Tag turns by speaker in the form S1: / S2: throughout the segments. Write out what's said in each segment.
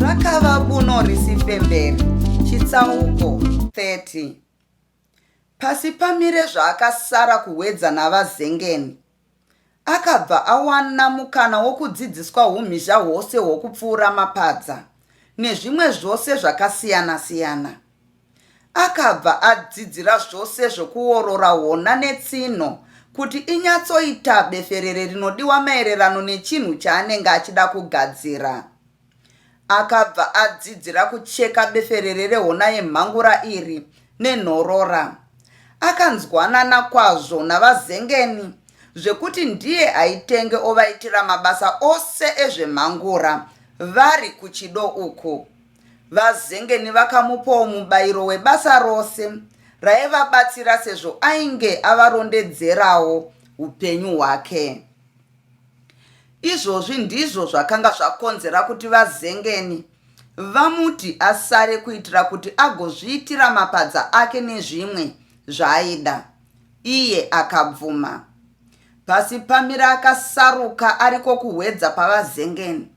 S1: rakava buno risipemberi chitsauko 30 pasi pamire zvaakasara kuhwedza navazengeni akabva awana mukana wokudzidziswa umhizha hwose hwokupfuura mapadza nezvimwe zvose zvakasiyana-siyana Akabva adzidzira zvose zvokuorora hona netsinho kuti inyatsoita beferere rinodiwa maererano nechinhu chaanenge achida kugadzira. Akabva adzidzira kucheka beferere rehona yemhangura iri nenhorora. Akanzwanana kwazvo naVaZengeni zvekuti ndiye aitenge ovaitira mabasa ose ezvemhangura vari kuchido uku. VaZengeni vakamupawo mubairo webasa rose raivabatsira sezvo ainge avarondedzerawo upenyu hwake. Izvozvi ndizvo zvakanga zvakonzera kuti VaZengeni vamuti asare kuitira kuti agozviitira mapadza ake nezvimwe zvaaida. Iye akabvuma. Pasi pamira akasaruka ariko kuhwedza paVaZengeni.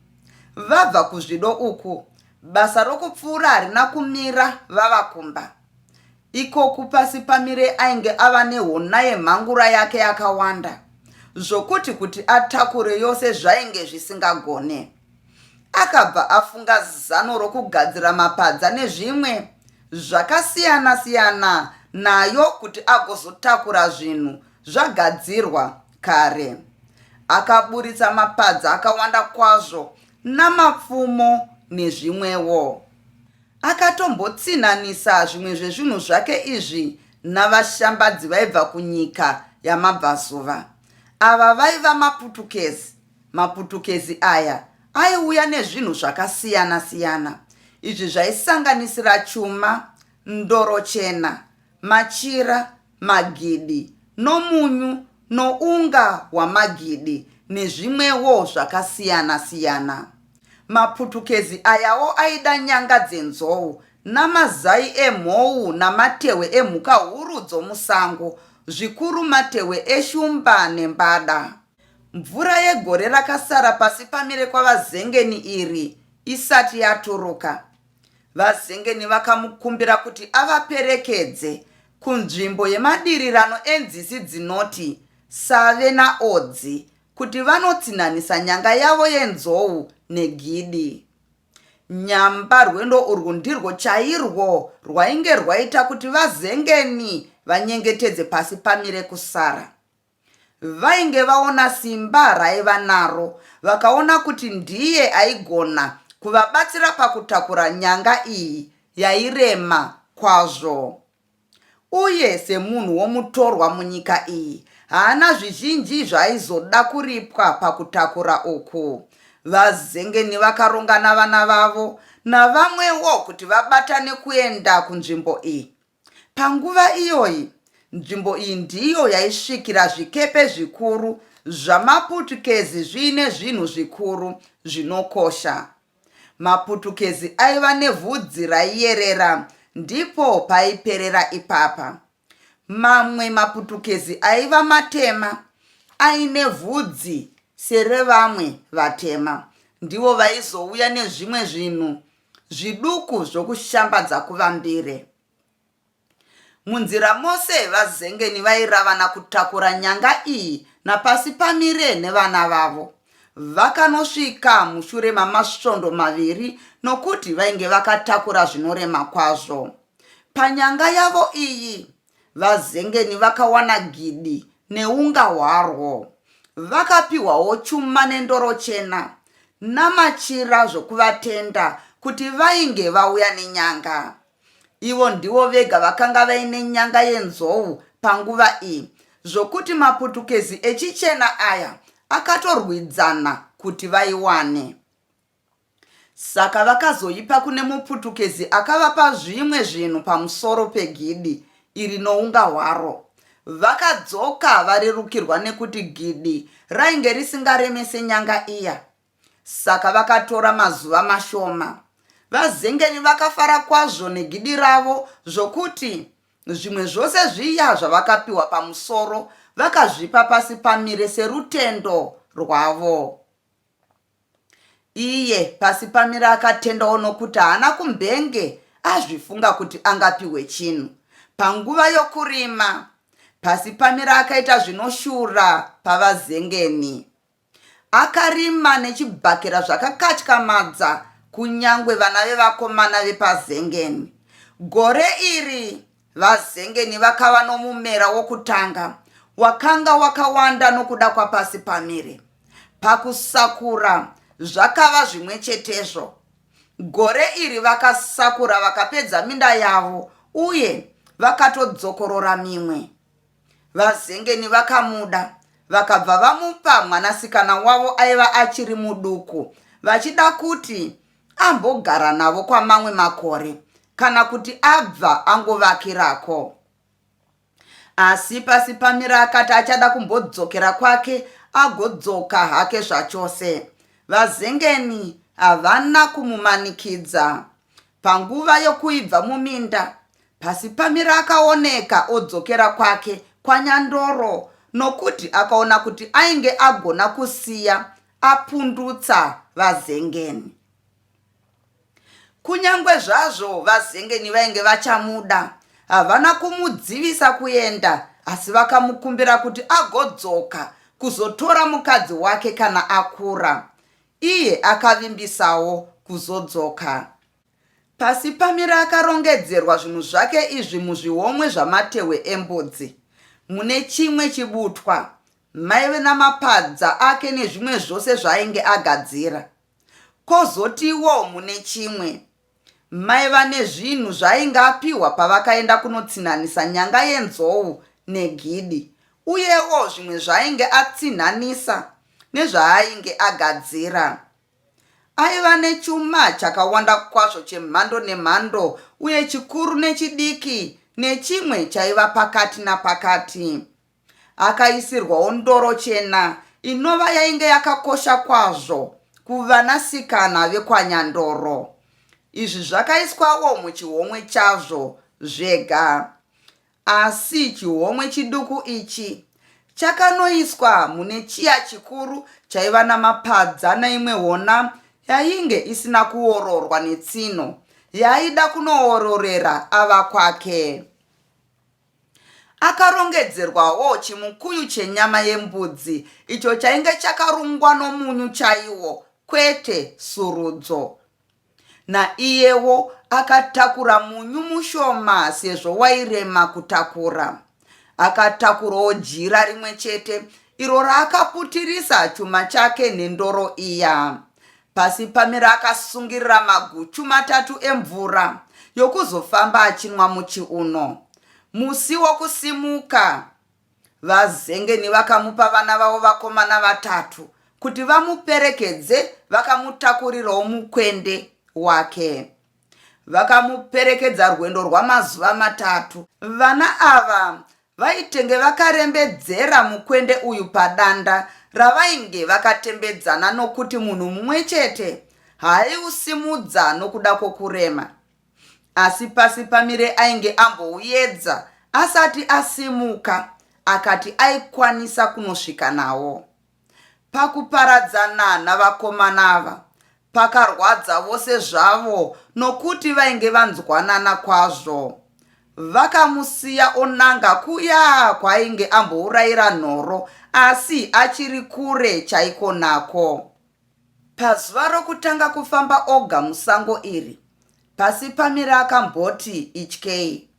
S1: Vabva kuzvido uku basa rokupfuura harina kumira vava kumba. Ikoku Pasipamire ainge ava nehona yemhangura yake yakawanda zvokuti kuti atakure yose zvainge zvisingagone. Akabva afunga zano rokugadzira mapadza nezvimwe zvakasiyana-siyana nayo kuti agozotakura zvinhu zvagadzirwa kare. Akaburitsa mapadza akawanda kwazvo namapfumo nezvimwewo. Akatombotsinhanisa zvimwe zvezvinhu zvake izvi navashambadzi vaibva kunyika yamabvazuva. Ava vaiva maputukezi. Maputukezi aya aiuya nezvinhu zvakasiyana siyana. Izvi zvaisanganisira chuma, ndoro chena, machira magidi, nomunyu, nounga hwamagidi nezvimwewo zvakasiyana siyana. Maputukezi ayawo aida nyanga dzenzou namazai emhou namatehwe emhuka huru dzomusango, zvikuru matehwe eshumba nembada. Mvura yegore rakasara pasi pamire kwaVazengeni iri isati yaturuka, VaZengeni vakamukumbira kuti avaperekedze kunzvimbo yemadirirano enzizi dzinoti Save naOdzi kuti vanotsinhanisa nyanga yavo yenzou negidi. Nyamba rwendo urwu ndirwo chairwo rwainge rwaita kuti VaZengeni vanyengetedze pasi pamire kusara. Vainge vaona simba raaiva naro vakaona kuti ndiye aigona kuvabatsira pakutakura nyanga iyi yairema kwazvo. Uye semunhu womutorwa munyika iyi haana zvizhinji zvaaizoda kuripwa pakutakura uku. VaZengeni vakaronga navana vavo navamwewo kuti vabatane kuenda kunzvimbo iyi. Panguva iyoyi, nzvimbo iyi ndiyo yaisvikira zvikepe zvikuru zvamaPutukezi zviine zvinhu zvikuru zvinokosha. MaPutukezi aiva nevhudzi raiyerera ndipo paiperera ipapa. Mamwe maPutukezi aiva matema aine vhudzi serevamwe vatema ndivo vaizouya nezvimwe zvinhu Zviduku zvokushambadza kuvambire. Munzira mose vazengeni vairavana kutakura nyanga iyi napasi pamire nevana vavo. Vakanosvika mushure mamasvondo maviri nokuti vainge vakatakura zvinorema kwazvo. Panyanga yavo iyi, VaZengeni vakawana gidi neunga hwarwo. Vakapihwawo chuma nendoro chena namachira zvokuvatenda kuti vainge vauya nenyanga. Ivo ndivo vega vakanga vaine nyanga yenzou panguva iyi zvokuti maPutukezi echichena aya akatorwidzana kuti vaiwane. Saka vakazoipa kune muPutukezi akavapa zvimwe zvinhu pamusoro pegidi iri nounga hwaro. Vakadzoka varerukirwa nekuti gidi rainge risingaremese nyanga iya. Saka vakatora mazuva mashoma. VaZengeni vakafara kwazvo negidi ravo zvokuti zvimwe zvose zviya zvavakapiwa pamusoro vakazvipa pasi pamire serutendo rwavo. Iye pasi pamira akatendawo nokuti haana kumbenge azvifunga kuti angapihwe chinhu panguva yokurima. Pasi pamira akaita zvinoshura paVaZengeni. Akarima nechibhakera zvakakatyamadza kunyangwe vana vevakomana vepaZengeni. Gore iri VaZengeni vakava nomumera wokutanga wakanga wakawanda nokuda kwapasi pamire. Pakusakura zvakava zvimwe chetezvo. Gore iri vakasakura vakapedza minda yavo uye vakatodzokorora mimwe. VaZengeni vakamuda vakabva vamupa mwanasikana wavo aiva achiri muduku vachida kuti ambogara navo kwamamwe makore kana kuti abva angovakirako asi pasi pamira akati achada kumbodzokera kwake agodzoka hake zvachose vazengeni havana kumumanikidza panguva yokuibva muminda pasi pamira akaoneka odzokera kwake kwanyandoro nokuti akaona kuti ainge agona kusiya apundutsa vazengeni Kunyangwe zvazvo vazengeni vainge vachamuda, havana kumudzivisa kuenda asi vakamukumbira kuti agodzoka kuzotora mukadzi wake kana akura. Iye akavimbisawo kuzodzoka. Pasi pamira akarongedzerwa zvinhu zvake izvi muzvihomwe zvamatehwe embudzi. Mune chimwe chibutwa maive namapadza ake nezvimwe zvose zvaainge agadzira. Kozotiwo mune chimwe, mai vane zvinhu zvaainge apihwa pavakaenda kunotsinhanisa nyanga yenzou negidi uyewo zvimwe zvaainge atsinhanisa nezvaainge agadzira. Aiva nechuma chakawanda kwazvo chemhando nemhando uye chikuru nechidiki nechimwe chaiva pakati napakati. Akaisirwawo ndoro chena inova yainge yakakosha kwazvo kuvanasikana vekwaNyandoro. Izvi zvakaiswawo muchihomwe chazvo zvega. Asi chihomwe chiduku ichi chakanoiswa mune chiya chikuru chaiva namapadza neimwe hona yainge isina kuororwa netsino yaida kunoororera ava kwake. Akarongedzerwawo chimukuyu chenyama yembudzi icho chainge chakarungwa nomunyu chaiwo, kwete surudzo. Naiyewo akatakura munyu mushoma sezvo wairema kutakura. Akatakurwawo jira rimwe chete iro raakaputirisa chuma chake nendoro iya. Pasi pamira akasungirira maguchu matatu emvura yokuzofamba achinwa muchiuno. Musi wokusimuka, vazengeni vakamupa vana vavo vakomana vatatu kuti vamuperekedze vakamutakurirawo mukwende wake. vakamuperekedza rwendo rwamazuva matatu. Vana ava vaitenge vakarembedzera mukwende uyu padanda ravainge vakatembedzana nokuti munhu mumwe chete haaiusimudza nokuda kwokurema. Asi pasi pamire ainge ambouyedza asati asimuka akati aikwanisa kunosvika nawo. Pakuparadzana navakomana ava pakarwadza vose zvavo nokuti vainge vanzwanana kwazvo. Vakamusiya onanga kuya kwaainge ambourayira nhoro asi achiri kure chaiko nako. Pazuva rokutanga kufamba oga musango iri, Pasipamire akamboti, Ityei.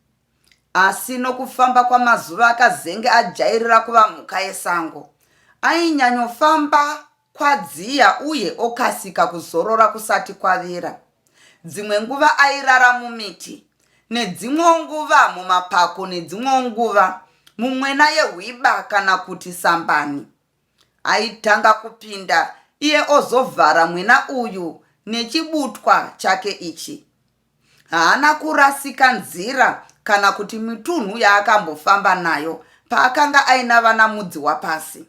S1: Asi nokufamba kwamazuva akazenge ajairira kuva mhuka yesango. Ainyanyofamba kwadziya uye okasika kuzorora kusati kwavira. Dzimwe nguva airara mumiti, nedzimwewo nguva mumapako nedzimwewo nguva mumwena yehwiba kana kuti sambani. Aitanga kupinda iye ozovhara mwena uyu nechibutwa chake ichi. Haana kurasika nzira kana kuti mitunhu yaakambofamba nayo paakanga aina vana mudzi wapasi.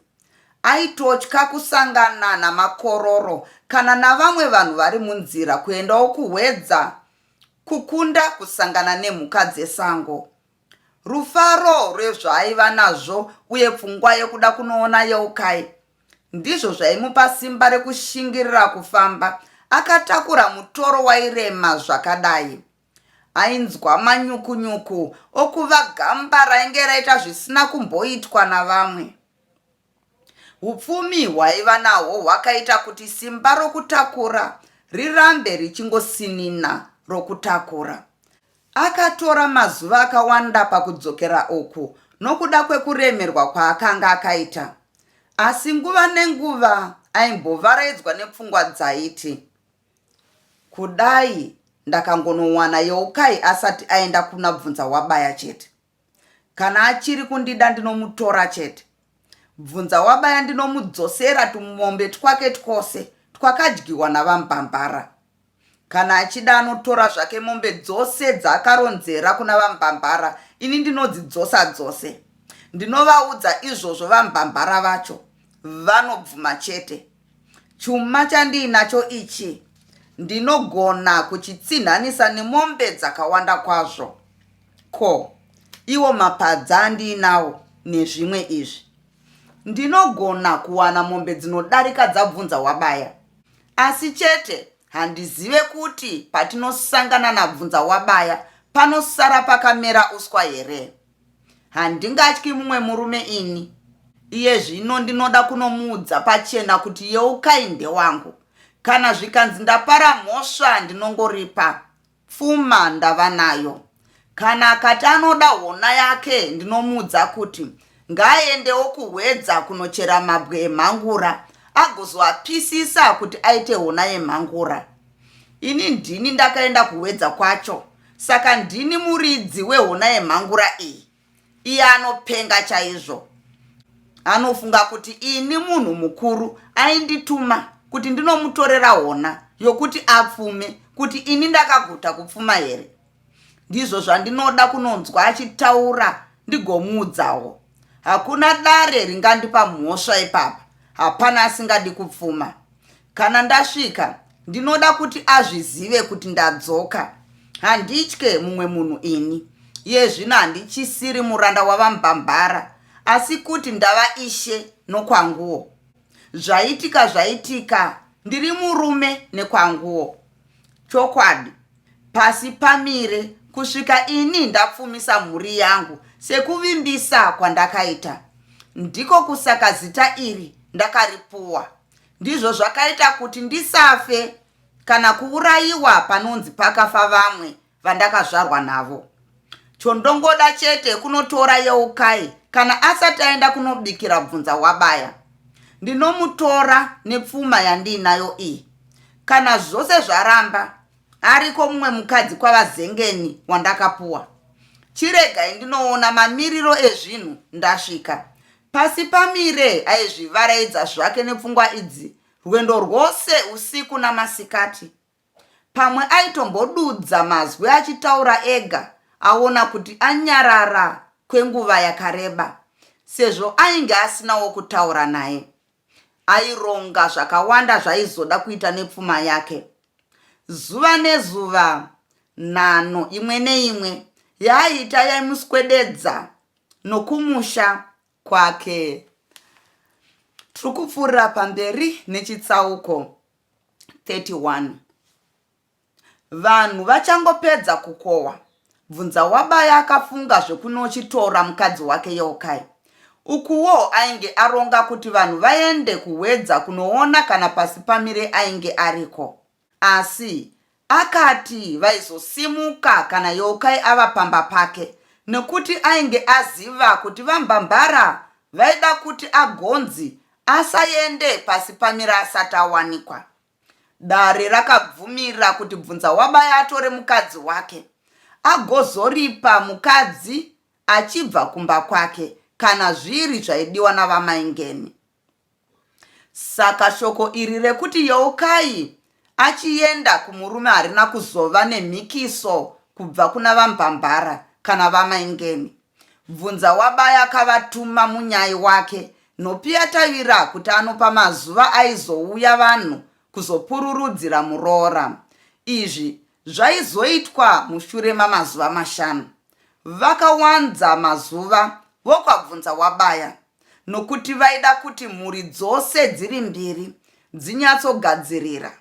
S1: Aitotya kusangana namakororo kana navamwe vanhu vari munzira kuendawo kuHwedza kukunda kusangana nemhuka dzesango. Rufaro rwezvaaiva nazvo uye pfungwa yekuda kunoona Yeukai ndizvo zvaimupa simba rekushingirira kufamba akatakura mutoro wairema zvakadai. Ainzwa manyukunyuku okuva gamba rainge raita zvisina kumboitwa navamwe. Upfumi hwaiva nahwo hwakaita kuti simba rokutakura rirambe richingosinina rokutakura. Akatora mazuva akawanda pakudzokera uku nokuda kwekuremerwa kwaakanga akaita. Asi nguva nenguva aimbovaraidzwa nepfungwa dzaiti, Kudai ndakangonowana Yeukai asati aenda kuna Bvunzahwabaya chete! Kana achiri kundida ndinomutora chete. Bvunza wabaya ndinomudzosera tumombe twake twose twakadyiwa navambambara. Kana achida anotora zvake mombe dzose dzaakaronzera kuna vambambara ini ndinodzidzosa dzose. Ndinovaudza izvozvo vambambara vacho vanobvuma chete. Chuma chandiinacho ichi ndinogona kuchitsinhanisa nemombe dzakawanda kwazvo. Ko, iwo mapadza andiinawo nezvimwe izvi? Ndinogona kuwana mombe dzinodarika dzabvunza wabaya. Asi chete handizive kuti patinosangana nabvunza wabaya panosara pakamera uswa here. Handingatyi mumwe murume ini. Iye zvino ndinoda kunomuudza pachena kuti Yeukai ndewangu. Kana zvikanzi ndapara mhosva ndinongoripa. Pfuma ndava nayo. Kana akati anoda hona yake ndinomuudza kuti ngaaendewo kuhwedza kunochera mabwe emhangura agozoapisisa kuti aite hona yemhangura. Ini ndini ndakaenda kuhwedza kwacho Saka ndini muridzi wehona yemhangura iyi? Iye anopenga chaizvo. Anofunga kuti ini munhu mukuru aindituma kuti ndinomutorera hona yokuti apfume kuti ini ndakaguta kupfuma here? Ndizvo zvandinoda kunonzwa achitaura ndigomuudzawo. Hakuna dare ringandipa mhosva ipapa. Hapana asingadi kupfuma. Kana ndasvika ndinoda kuti azvizive kuti ndadzoka. Handitye mumwe munhu ini. Iye zvino handichisiri muranda wavambambara asi kuti ndava ishe nokwanguwo. Zvaitika zvaitika ndiri murume nekwanguwo. Chokwadi pasi pamire kusvika ini ndapfumisa mhuri yangu sekuvimbisa kwandakaita. Ndiko kusaka zita iri ndakaripuwa. Ndizvo zvakaita kuti ndisafe kana kuurayiwa panonzi pakafa vamwe vandakazvarwa navo. Chondongoda chete kunotora Yeukai kana asati aenda kunobikira bvunza wabaya. Ndinomutora nepfuma yandiinayo iyi. Kana zvose zvaramba, ariko mumwe mukadzi kwaVaZengeni wandakapuwa. Chiregai ndinoona mamiriro ezvinhu ndasvika. Pasi pamire aizvivaraidza zvake nepfungwa idzi rwendo rwose usiku namasikati. Pamwe aitombodudza mazwi achitaura ega aona kuti anyarara kwenguva yakareba sezvo ainge asina wokutaura naye. Aironga zvakawanda zvaizoda kuita nepfuma yake. Zuva nezuva nhano imwe neimwe yaaiita yaimuswededza nokumusha kwake. Tiri kupfuurira pamberi nechitsauko 31. Vanhu vachangopedza kukohwa, bvunza wabaya akafunga zvekunochitora mukadzi wake Yokai. Ukuwo ainge aronga kuti vanhu vaende kuhwedza kunoona kana Pasipamire ainge ariko. Asi akati vaizosimuka kana Yeukai ava pamba pake nekuti ainge aziva kuti VaMbambara vaida kuti agonzi asaende pasi pamira asati awanikwa. Dare rakabvumira kuti Bvunzawabaya atore mukadzi wake agozoripa mukadzi achibva kumba kwake kana zviri zvaidiwa naVaMaingeni. Saka shoko iri rekuti yeukai achienda kumurume harina kuzova nemhikiso kubva kuna vaMbambara kana vaMaingeni. Bvunza wabaya akavatuma munyai wake Nhopiya Tavira kuti anopa mazuva aizouya vanhu kuzopururudzira muroora. Izvi zvaizoitwa mushure mamazuva mashanu. Vakawanza mazuva vokwabvunza wabaya. nokuti vaida kuti mhuri dzose dziri mbiri dzinyatsogadzirira.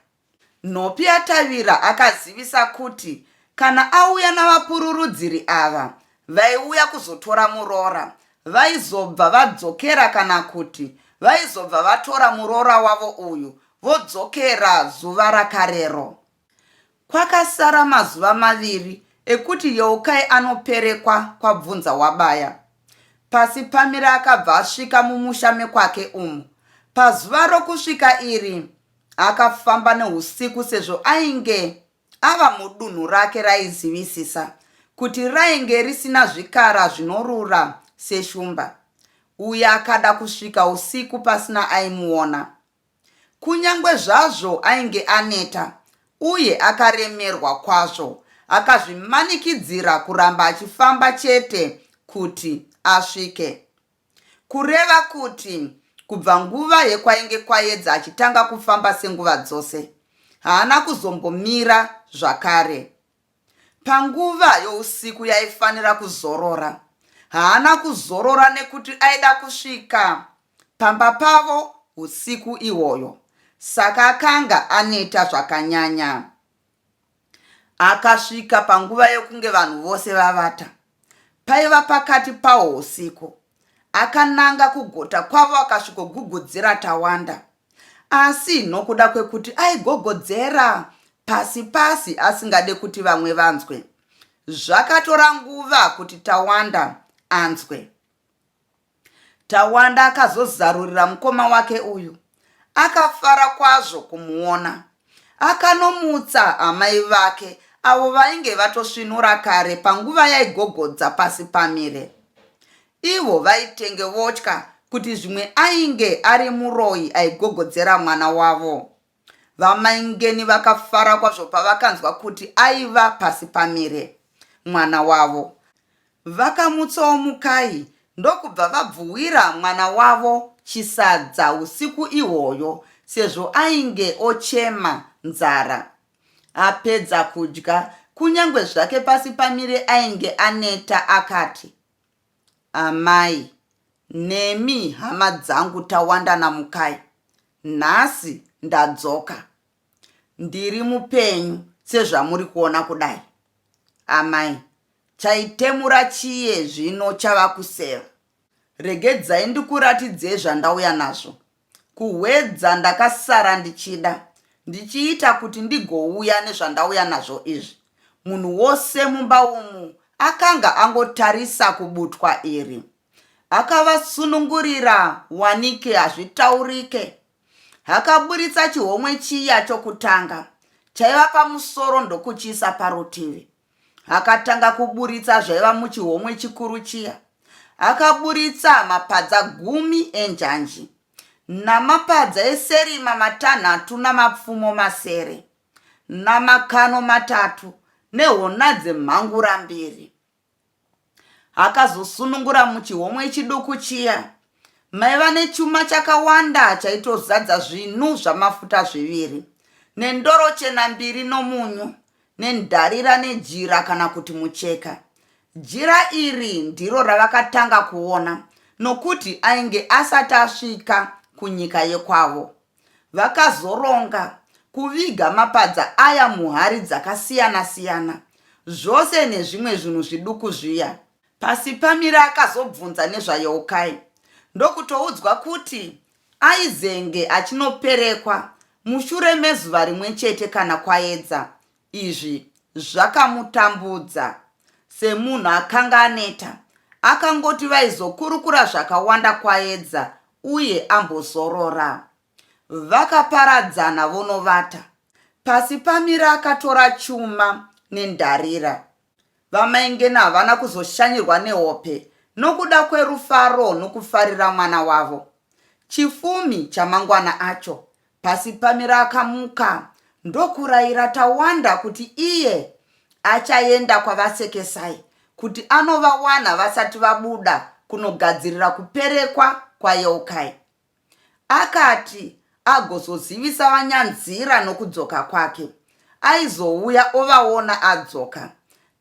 S1: Nhopiatavira akazivisa kuti kana auya navapururudziri ava vaiuya kuzotora muroora vaizobva vadzokera kana kuti vaizobva vatora muroora wavo uyu vodzokera zuva rakarero. Kwakasara mazuva maviri ekuti Yeukai anoperekwa kwaBvunza wabaya. Pasi pamira akabva asvika mumusha mekwake umu. Pazuva rokusvika iri akafamba neusiku sezvo ainge ava mudunhu rake raizivisisa kuti rainge risina zvikara zvinorura seshumba uye akada kusvika usiku pasina aimuona Kunyange zvazvo ainge aneta uye akaremerwa kwazvo, akazvimanikidzira kuramba achifamba chete kuti asvike. Kureva kuti kubva nguva yekwainge Kwayedza achitanga kufamba senguva dzose, haana kuzombomira zvakare. Panguva yousiku yaifanira kuzorora, haana kuzorora nekuti aida kusvika pamba pavo usiku ihwoyo saka akanga aneta zvakanyanya. Akasvika panguva yekunge vanhu vose vavata. Paiva pakati pawo husiku. Akananga kugota kwavo akasvikogugudzira Tawanda. Asi nokuda kwekuti aigogodzera pasi pasi asingade kuti vamwe vanzwe. Zvakatora nguva kuti Tawanda anzwe. Tawanda akazozarurira mukoma wake uyu akafara kwazvo kumuona. Akanomutsa amai vake avo vainge vatosvinura kare panguva yaigogodza pasi pamire. Ivo vaitenge votya kuti zvimwe ainge ari muroyi aigogodzera mwana wavo. VaMaingeni vakafara kwazvo pavakanzwa kuti aiva pasi pamire mwana wavo. Vakamutsawo Mukai ndokubva vabvuwira mwana wavo chisadza usiku ihwoyo sezvo ainge ochema nzara. Apedza kudya, kunyangwe zvake pasi pamire ainge aneta akati, Amai. Nemi hama dzangu tawanda namukai. Nhasi ndadzoka. Ndiri mupenyu sezvamuri kuona kudai. Amai. Chaitemura chiye zvino chava kuseva. Regedzai ndikuratidzei zvandauya nazvo. Kuhwedza ndakasara ndichida ndichiita kuti ndigouya nezvandauya nazvo izvi. Munhu wose mumba umu akanga angotarisa kubutwa iri. Akavasunungurira wanike hazvitaurike. Akaburitsa chihomwe chiya chokutanga chaiva pamusoro ndokuchiisa parutivi. akatanga kuburitsa zvaiva muchihomwe chikuru chiya akaburitsa mapadza gumi enjanji namapadza eserima matanhatu namapfumo masere namakano matatu nehona dzemhangura mbiri akazosunungura muchihomwe chiduku chiya maiva nechuma chakawanda chaitozadza zvinu zvamafuta zviviri nendoro chena mbiri nomunyu nendarira nejira kana kuti mucheka jira iri ndiro ravakatanga kuona nokuti ainge asati asvika kunyika yekwavo Vakazoronga kuviga mapadza aya muhari dzakasiyana-siyana, zvose nezvimwe zvinhu zviduku zviya. Pasipamire akazobvunza nezvaYeukai ndokutoudzwa kuti aizenge achinoperekwa mushure mezuva rimwe chete kana kwaedza Izvi zvakamutambudza semunhu akanga aneta. Akangoti vaizokurukura zvakawanda Kwayedza uye ambozorora. Vakaparadzana vonovata. Pasi pamira akatora chuma nendarira. VaMaingena havana kuzoshanyirwa nehope nokuda kwerufaro nokufarira mwana wavo. Chifumi chamangwana acho, Pasipamira akamuka ndokuraira Tawanda kuti iye achaenda kwaVaSekesai kuti anovawana vasati vabuda kunogadzirira kuperekwa kwaYeukai. Akati agozozivisa vaNyanzira nokudzoka kwake. Aizouya ovaona adzoka.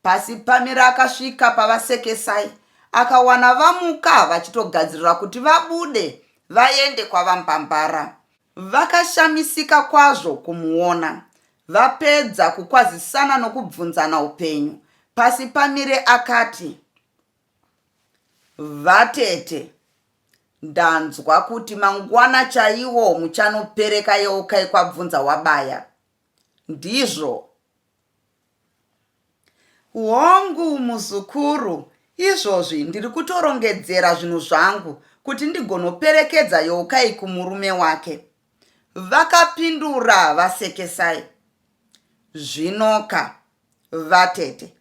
S1: Pasipamira akasvika pavaSekesai akawana vamuka vachitogadzirira kuti vabude vaende kwaVaMbambara. Vakashamisika kwazvo kumuona. Vapedza kukwazisana nokubvunzana upenyu, Pasipamire akati. Vatete, ndanzwa kuti mangwana chaiwo muchanopereka yeukai kwabvunza wabaya. Ndizvo? Hongu muzukuru, izvozvi ndiri kutorongedzera zvinhu zvangu kuti ndigonoperekedza Youkai kumurume wake, vakapindura vaSekesai. Zvinoka, vatete.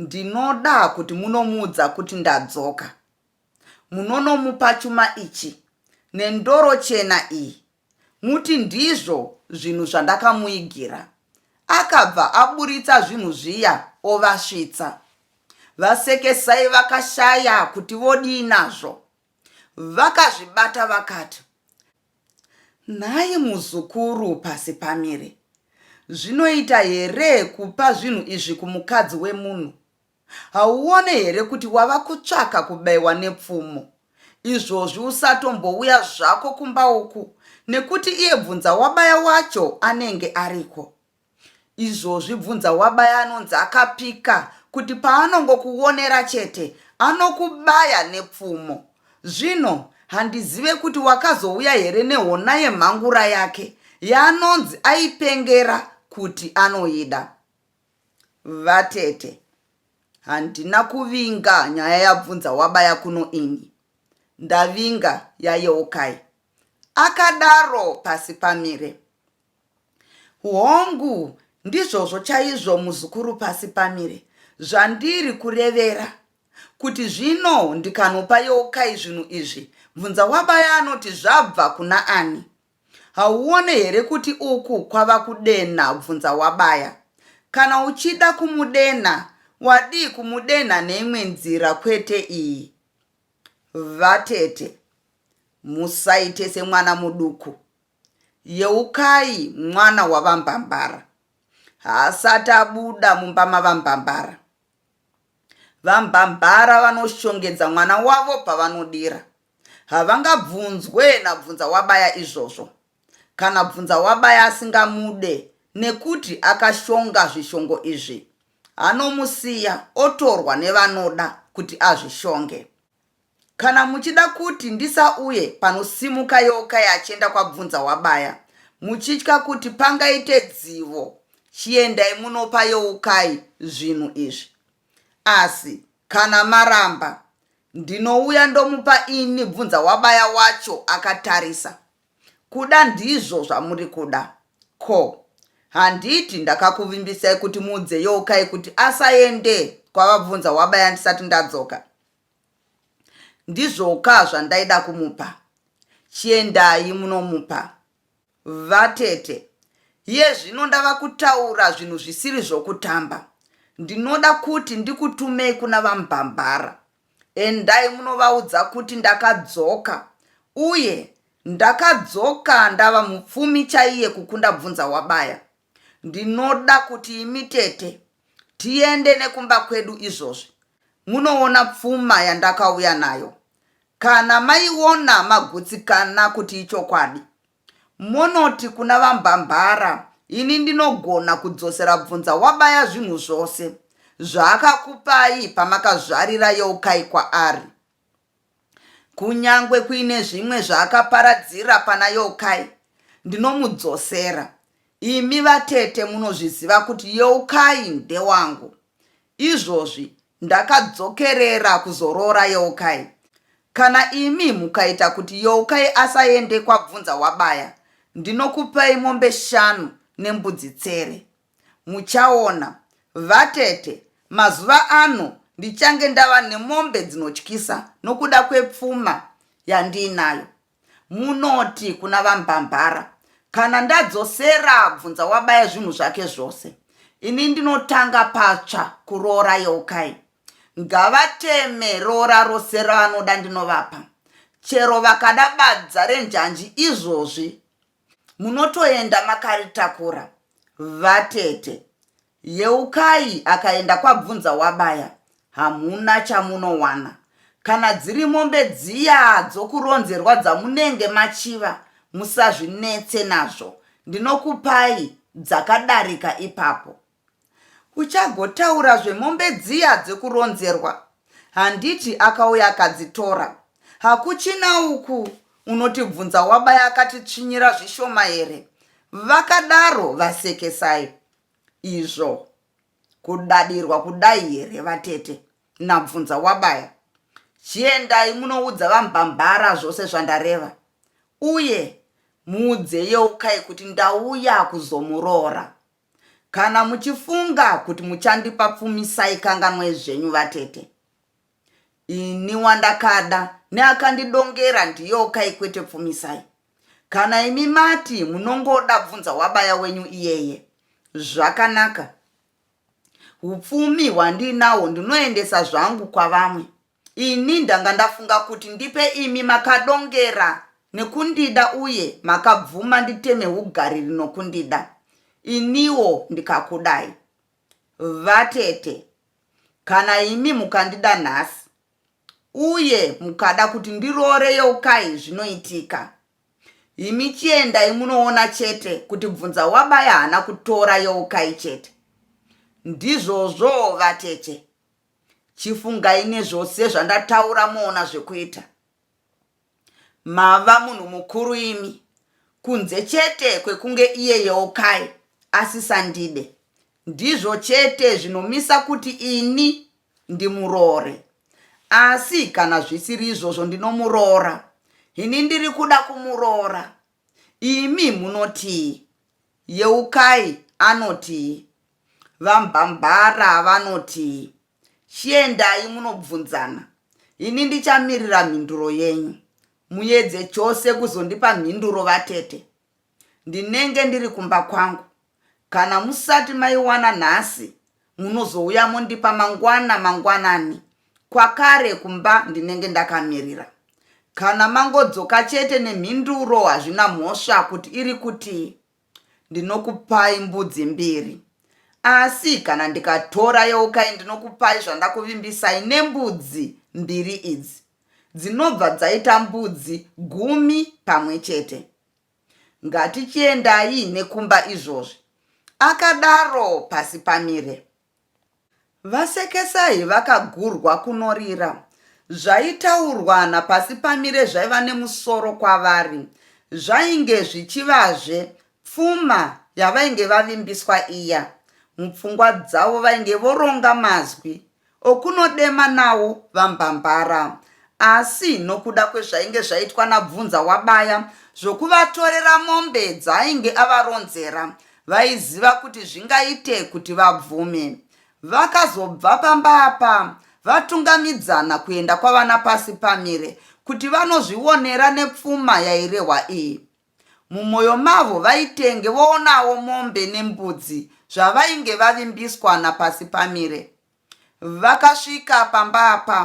S1: Ndinoda kuti munomuudza kuti ndadzoka. Munonomupa chuma ichi nendoro chena iyi muti ndizvo zvinhu zvandakamuigira. Akabva aburitsa zvinhu zviya ovasvitsa. VaSekesai vakashaya kuti vodii nazvo. Vakazvibata vakati, Nhai muzukuru pasi pamire zvinoita here kupa zvinhu izvi kumukadzi wemunhu hauone here kuti wava kutsvaka kubaiwa nepfumo izvozvi usatombouya zvako kumba uku nekuti iye bvunza wabaya wacho anenge ariko Izvozvi bvunza wabaya anonzi akapika kuti paanongokuonera chete anokubaya nepfumo. Zvino handizive kuti wakazouya here nehona yemhangura yake yaanonzi aipengera kuti anoida. Vatete, handina kuvinga nyaya yabvunza wabaya kuno ini. Ndavinga yaYeukai. Akadaro pasi pamire. Hongu, ndizvozvo chaizvo, muzukuru pasi pamire. Zvandiri kurevera, kuti zvino ndikanopa Yeukai zvinhu izvi, bvunza wabaya anoti zvabva kuna ani. Hauone here kuti uku kwava kudenha bvunza wabaya? Kana uchida kumudenha, wadii kumudenha neimwe nzira kwete iyi? Vatete, musaite semwana muduku. Yeukai mwana wavaMbambara haasati abuda mumba mavaMbambara. VaMbambara vanoshongedza mwana wavo pavanodira. Havangabvunzwe naBvunzawabaya izvozvo. Kana Bvunzawabaya asingamude nekuti akashonga zvishongo izvi, anomusiya otorwa nevanoda kuti azvishonge. Kana muchida kuti ndisauye panosimuka yoka yachienda kwabvunza wabaya muchitya kuti pangaite dzivo chiendai munopa youkai zvinhu izvi asi kana maramba ndinouya ndomupa ini bvunza wabaya wacho akatarisa Kuda ndizvo zvamuri kuda ko handiti ndakakuvimbisai kuti muudze Youkai kuti asaende kwavabvunza wabaya ndisati ndadzoka? Ndizvoka zvandaida kumupa. Chiendai munomupa. Vatete, iye zvino ndava kutaura zvinhu zvisiri zvokutamba. Ndinoda kuti ndikutumei kuna VaMbambara. Endai munovaudza kuti ndakadzoka uye ndakadzoka ndava mupfumi chaiye kukunda bvunza wabaya. Ndinoda kuti imi tete tiende nekumba kwedu izvozvi munoona pfuma yandakauya nayo. Kana maiona magutsikana kuti ichokwadi Monoti kuna vaMbambara ini ndinogona kudzosera bvunza wabaya zvinhu zvose zvaakakupai pamakazvarira Yeukai kwaari. Kunyangwe kuine zvimwe zvaakaparadzira pana Yeukai ndinomudzosera. Imi vatete munozviziva kuti Yeukai ndewangu. Izvozvi Ndakadzokerera kuzoroora Yeukai. Kana imi mukaita kuti Yeukai asaende kwabvunza wabaya ndinokupai mombe shanu nembudzi tsere. Muchaona. Vatete, mazuva ano ndichange ndava nemombe dzinotyisa nokuda kwepfuma yandiinayo. Munoti kuna vaMbambara kana ndadzosera Bvunzawabaya zvinhu zvake zvose, ini ndinotanga patsva kuroora Yeukai. Ngavateme roora rose ravanoda ndinovapa. Chero vakada badza renjanji izvozvi munotoenda makaritakura vatete yeukai akaenda kwabvunza wabaya hamuna chamunowana kana dziri mombe dziya dzokuronzerwa dzamunenge machiva musazvinetse nazvo ndinokupai dzakadarika ipapo Uchagotaura zvemombe dziya dzekuronzerwa handiti akauya akadzitora. Hakuchina uku unotibvunza wabaya akatitsvinyira zvishoma here? Vakadaro vasekesai. Izvo kudadirwa kudai here vatete? Nabvunza wabaya. Chiendai munoudza vambambara zvose zvandareva. Uye muudze Yeukai kuti ndauya kuzomuroora. Kana muchifunga kuti muchandipa pfumisai kanganwai zvenyu vatete. Ini wandakada neakandidongera ndiyokai kwete pfumisai. Kana imi mati munongoda bvunza wabaya wenyu iyeye. Zvakanaka. Hupfumi hwandiinawo ndinoendesa zvangu kwavamwe. Ini ndanga ndafunga kuti ndipe imi makadongera nekundida uye makabvuma nditeme hugariri nokundida iniwo ndikakudai. Vatete, kana imi mukandida nhasi uye mukada kuti ndiroore Yeukai zvinoitika. Imi chiendai munoona chete kuti Bvunzawabaya haana kutora Yeukai chete. Ndizvozvo vatete. Chifungai nezvose zvandataura moona zvekuita. Mava munhu mukuru imi kunze chete kwekunge iye Yeukai asisandide. Ndizvo chete zvinomisa kuti ini ndimuroore. Asi kana zvisiri izvozvo ndinomuroora. Ini ndiri kuda kumuroora. Imi munotii? Yeukai anotii? VaMbambara vanotii? Chiendai munobvunzana. Ini ndichamirira mhinduro yenyu. Muedze chose kuzondipa mhinduro vatete. Ndinenge ndiri kumba kwangu. Kana musati maiwana nhasi munozouya mondipa mangwana mangwanani kwakare kumba ndinenge ndakamirira. Kana mangodzoka chete nemhinduro hazvina mhosva kuti iri kutii. Ndinokupai mbudzi mbiri asi kana ndikatora yeukai ndinokupai zvandakuvimbisai nembudzi mbiri idzi dzinobva dzaita mbudzi gumi pamwe chete. Ngatichiendai nekumba izvozvi. Akadaro pasi pamire. Vasekesai vakagurwa kunorira. Zvaitaurwa napasi pamire zvaiva nemusoro kwavari. Zvainge zvichivazve pfuma yavainge vavimbiswa iya. Mupfungwa dzavo vainge voronga mazwi okunodema nawo VaMbambara asi nokuda kwezvainge zvaitwa naBvunza wabaya zvokuvatorera mombe dzaainge avaronzera vaiziva kuti zvingaite kuti vabvume. Vakazobva pamba apa vatungamidzana kuenda kwavana Pasipamire kuti vanozvionera nepfuma yairehwa iyi. Mumwoyo mavo vaitenge voonawo mombe nembudzi zvavainge vavimbiswa naPasipamire. Vakasvika pamba apa,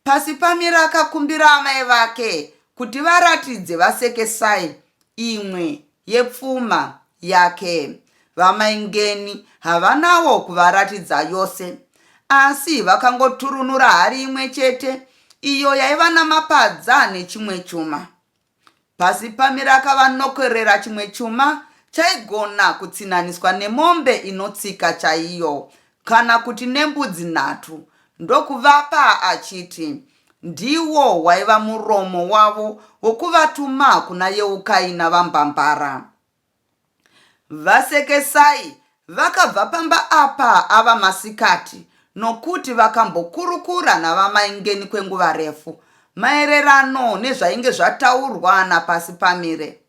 S1: Pasipamire akakumbira amai vake kuti varatidze vaSekesai imwe yepfuma yake. Vamai Ngeni havanawo kuvaratidza yose, asi vakangoturunura hari imwe chete iyo yaiva namapadza nechimwe chuma. Pasi pamira akava nokorera chimwe chuma chaigona kutsinaniswa nemombe inotsika chaiyo kana kuti nembudzi nhatu ndokuvapa achiti ndiwo waiva muromo wavo wokuvatuma kuna Yeukai naVaMbambara. VaSekesai vakabva pamba apa ava masikati nokuti vakambokurukura naVaMaingeni kwenguva refu maererano nezvainge zvataurwa naPasipamire.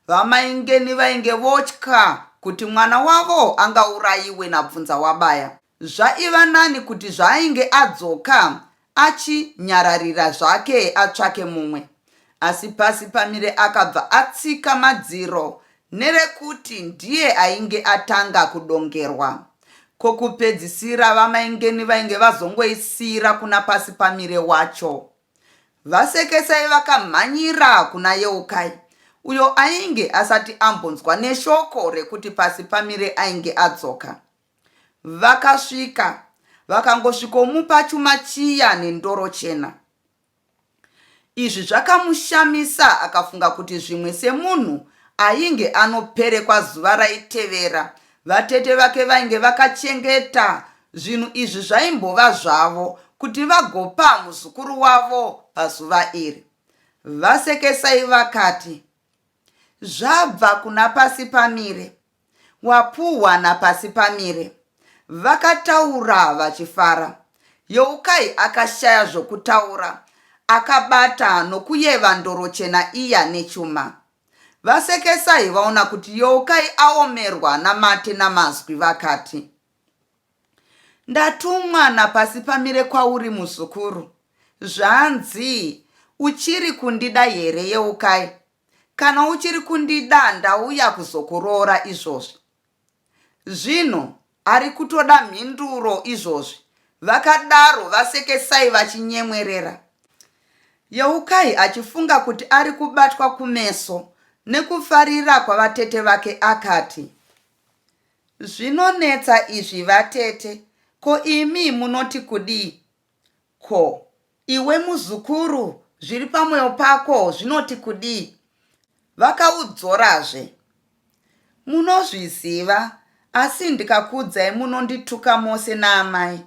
S1: VaMaingeni vainge votya kuti mwana wavo angaurayiwe naBvunzawabaya. Zvaiva nani kuti zvaainge adzoka achi nyararira zvake atsvake mumwe. Asi pasi pamire akabva atsika madziro nerekuti ndiye ainge atanga kudongerwa. Ko kupedzisira vamai Ngeni vainge vazongoisiira kuna pasi pamire wacho. VaSekesai vakamhanyira kuna Yeukai uyo ainge asati ambonzwa neshoko rekuti pasi pamire ainge adzoka. Vakasvika vakangosvikomupa chuma chiya nendoro chena. Izvi zvakamushamisa akafunga kuti zvimwe semunhu ainge anoperekwa zuva raitevera vatete vake vainge vakachengeta zvinhu izvi zvaimbova zvavo kuti vagopa muzukuru wavo pazuva iri. Vasekesai vakati, Zvabva kuna pasi pamire. Wapuhwa naPasipamire. Vakataura vachifara. Youkai akashaya zvokutaura akabata nokuyeva ndoro chena iya nechuma. VaSekesai vaona kuti Youkai aomerwa namate namazwi vakati, Ndatumwa naPasipamire kwauri muzukuru. Zvanzi, Uchiri kundida here Yeukai? Kana uchiri kundida ndauya kuzokuroora izvozvi. Zvinhu ari kutoda mhinduro izvozvi, vakadaro VaSekesai vachinyemwerera. Yeukai achifunga kuti ari kubatwa kumeso nekufarira kwavatete vake akati, Zvinonetsa izvi vatete, ko imi munoti kudii? Ko iwe muzukuru zviri pamwoyo pako zvinoti kudii? Vakaudzorazve. Munozviziva asi ndikakuudzai munondituka mose naamai.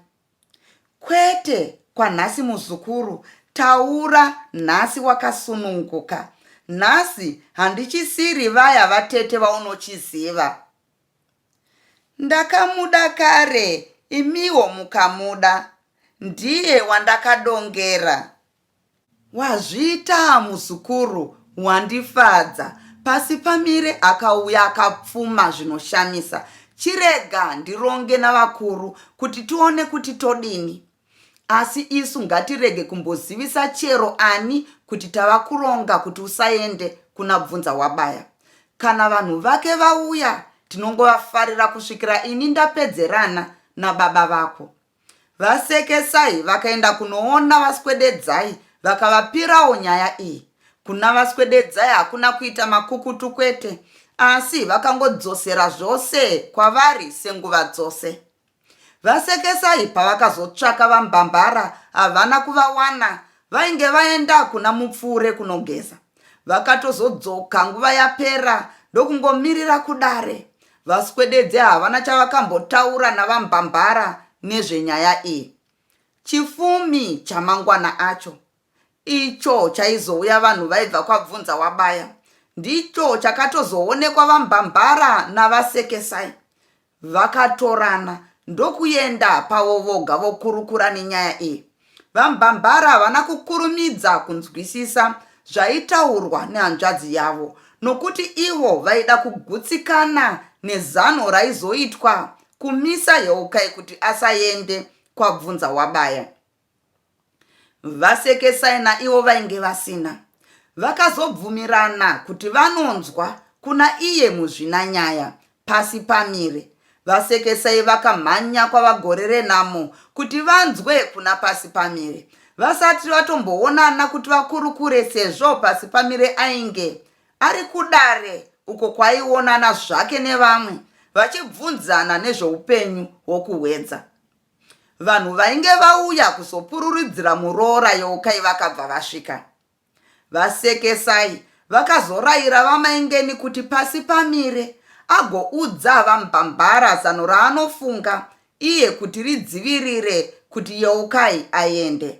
S1: Kwete kwanhasi muzukuru, taura nhasi wakasununguka. Nhasi handichisiri vaya vatete vaunochiziva. Ndakamuda kare imiwo mukamuda ndiye wandakadongera. Wazviitaa muzukuru wandifadza pasi pamire akauya akapfuma zvinoshamisa chirega ndironge navakuru kuti tione kuti todini asi isu ngatirege kumbozivisa chero ani kuti tava kuronga kuti usaende kuna bvunza wabaya kana vanhu vake vauya tinongovafarira kusvikira ini ndapedzerana nababa vako vasekesai vakaenda kunoona vaswededzai vakavapirawo nyaya iyi kuna vaswededzai hakuna kuita makukutu kwete asi vakangodzosera zvose kwavari senguva dzose VaSekesai pavakazotsvaka VaMbambara havana kuvawana vainge vaenda kuna Mupfuure kunogeza. Vakatozodzoka nguva yapera ndokungomirira kudare. VaSwededze havana chavakambotaura naVaMbambara nezvenyaya iyi. Chifumi chamangwana acho icho chaizouya vanhu vaibva kwaBvunza wabaya ndicho chakatozoonekwa VaMbambara naVaSekesai. Vakatorana ndokuenda pavo voga vokurukura nenyaya iyi. VaMbambara havana kukurumidza kunzwisisa zvaitaurwa nehanzvadzi yavo nokuti ivo vaida kugutsikana nezano raizoitwa kumisa Yeukai kuti asaende kwabvunza Wabaya. VaSekesai naivo vainge vasina vakazobvumirana kuti vanonzwa kuna iye muzvinanyaya pasi pamire. VaSekesai vakamhanya kwaVaGore renhamo kuti vanzwe kuna pasi pamire vasati vatomboonana kuti vakurukure sezvo pasi pamire ainge ari kudare uko kwaionana zvake nevamwe vachibvunzana nezveupenyu hwokuhwedza. Vanhu vainge vauya kuzopururidzira muroora Yeukai vakabva vasvika. Vasekesai vakazoraira vamaingeni kuti pasi pamire agoudza vambambara zano raanofunga iye kuti ridzivirire kuti Yeukai aende.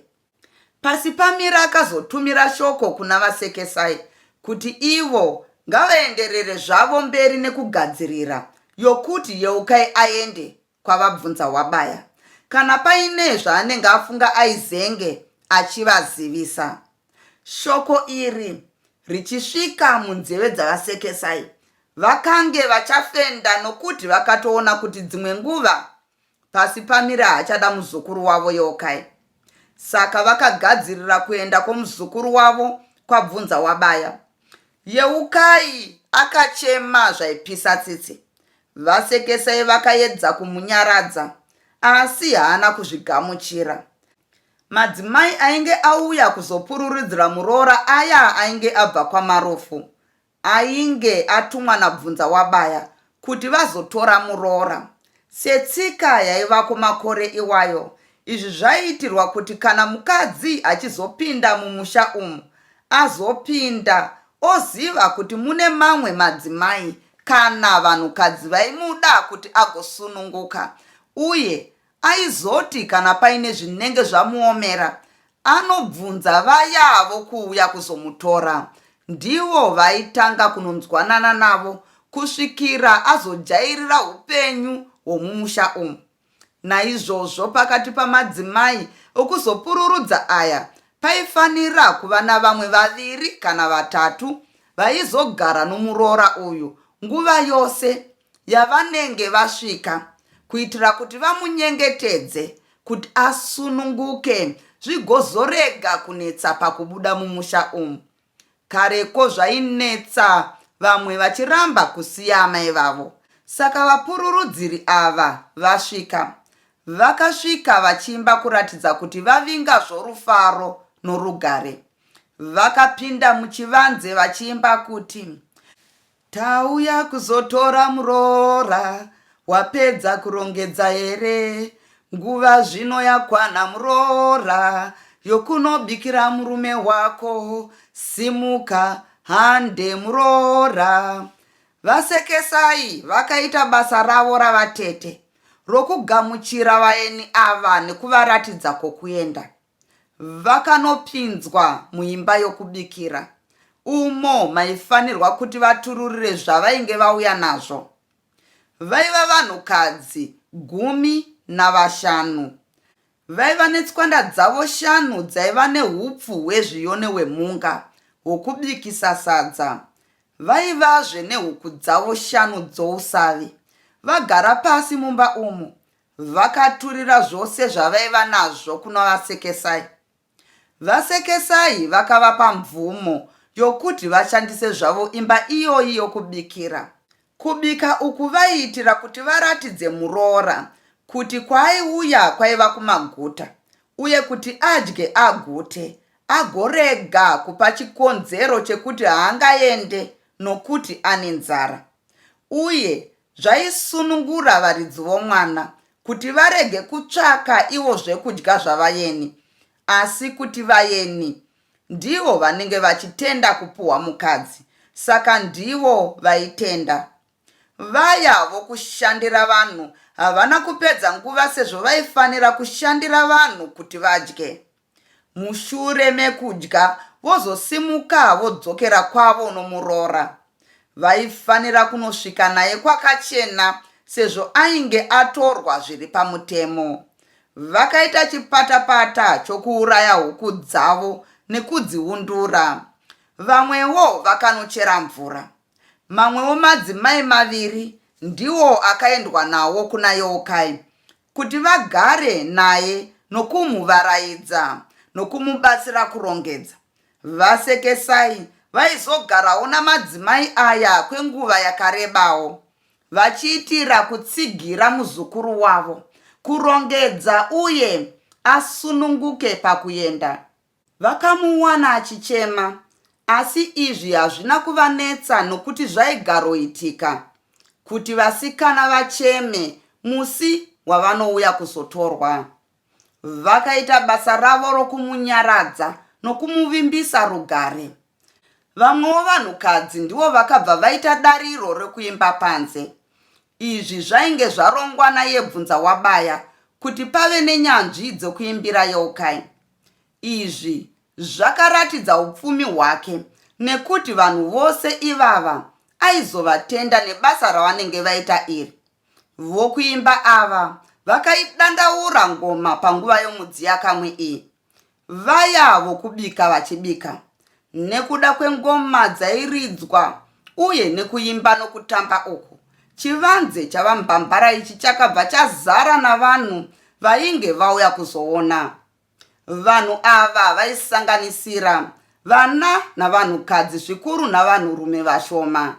S1: Pasi pamire akazotumira shoko kuna vasekesai kuti ivo ngavaenderere zvavo mberi nekugadzirira yokuti Yeukai aende kwavabvunza Wabaya kana paine zvaanenge afunga aizenge achivazivisa. Shoko iri richisvika munzeve dzavaSekesai vakange vachafenda nokuti vakatoona kuti dzimwe nguva pasi pamira hachada muzukuru wavo Yokai Saka vakagadzirira kuenda kwomuzukuru wavo kwabvunza wabaya. Yeukai akachema zvaipisa tsitsi. Vasekesai vakaedza kumunyaradza asi haana kuzvigamuchira. Madzimai ainge auya kuzopururidzira muroora aya ainge abva kwaMarufu ainge atumwa naBvunzawabaya kuti vazotora muroora. Setsika yaivako makore iwayo, izvi zvaiitirwa kuti kana mukadzi achizopinda mumusha umu, azopinda oziva kuti mune mamwe madzimai kana vanhukadzi vaimuda kuti agosununguka uye Aizoti kana paine zvinenge zvamuomera anobvunza vaya avo kuuya kuzomutora. Ndivo vaitanga kunonzwanana navo kusvikira azojairira upenyu hwomumusha umu. Naizvozvo pakati pamadzimai okuzopururudza aya paifanira kuva navamwe vaviri kana vatatu vaizogara nomuroora uyu nguva yose yavanenge vasvika kuitira kuti vamunyengetedze kuti asununguke zvigozorega kunetsa pakubuda mumusha umu. Kareko zvainetsa vamwe vachiramba kusiya amai vavo saka vapururudziri ava vasvika vakasvika vachiimba kuratidza kuti vavinga zvorufaro norugare. Vakapinda muchivanze vachiimba kuti Tauya kuzotora muroora wapedza kurongedza here nguva zvino yakwana muroora yokunobikira murume wako simuka hande muroora vasekesai vakaita basa ravo ravatete rokugamuchira vaeni ava nekuvaratidza kwokuenda Vakanopinzwa muimba yokubikira umo maifanirwa kuti vatururire zvavainge vauya nazvo. Vaiva vanhukadzi gumi navashanu. Vaiva netswanda dzavo shanu dzaiva nehupfu hwezviyone hwemhunga hwokubikisa sadza. Vaivazve nehuku dzavo shanu dzousavi. Vagara pasi mumba umu, Vakaturira zvose zvavaiva nazvo kunaVaSekesai. VaSekesai vakavapa mvumo yokuti vashandise zvavo imba iyoyi yokubikira. Kubika uku vaiitira kuti varatidze muroora kuti kwaaiuya kwaiva kumaguta uye kuti adye agute agorega kupa chikonzero chekuti haangaende nokuti ane nzara uye zvaisunungura varidzi vomwana kuti varege kutsvaka ivo zvekudya zvavayeni asi kuti vayeni ndivo vanenge vachitenda kupuhwa mukadzi saka ndivo vaitenda vaya vokushandira vanhu havana kupedza nguva sezvo vaifanira kushandira vanhu kuti vadye Mushure mekudya vozosimuka vodzokera kwavo nomuroora. Vaifanira kunosvika naye kwakachena sezvo ainge atorwa zviri pamutemo. Vakaita chipatapata chokuuraya huku dzavo nekudziundura. Vamwewo vakanochera mvura. Mamwewo madzimai maviri ndiwo akaendwa nawo kuna Yeukai kuti vagare naye nokumuvaraidza nokumubatsira kurongedza. VaSekesai vaizogarawo namadzimai aya kwenguva yakarebawo, vachiitira kutsigira muzukuru wavo kurongedza uye asununguke pakuenda. Vakamuwana achichema, asi izvi hazvina kuvanetsa nokuti zvaigaroitika kuti vasikana vacheme musi wavanouya kuzotorwa. Vakaita basa ravo rokumunyaradza nokumuvimbisa rugare. Vamwewo vanhukadzi ndivo vakabva vaita dariro rekuimba panze. Izvi zvainge zvarongwa nayebvunza wabaya kuti pave nenyanzvi dzekuimbira yeukai. Izvi zvakaratidza upfumi hwake nekuti vanhu vose ivava aizovatenda nebasa ravanenge vaita iri. Vokuimba ava vakaidandaura ngoma panguva yomudziyakamwe iyi. Vaya vokubika vachibika Nekuda kwengoma dzairidzwa uye nekuimba nokutamba uku, chivanze chaVaMbambara ichi chakabva chazara navanhu vainge vauya kuzoona. Vanhu ava vaisanganisira vana navanhukadzi zvikuru navanhurume vashoma.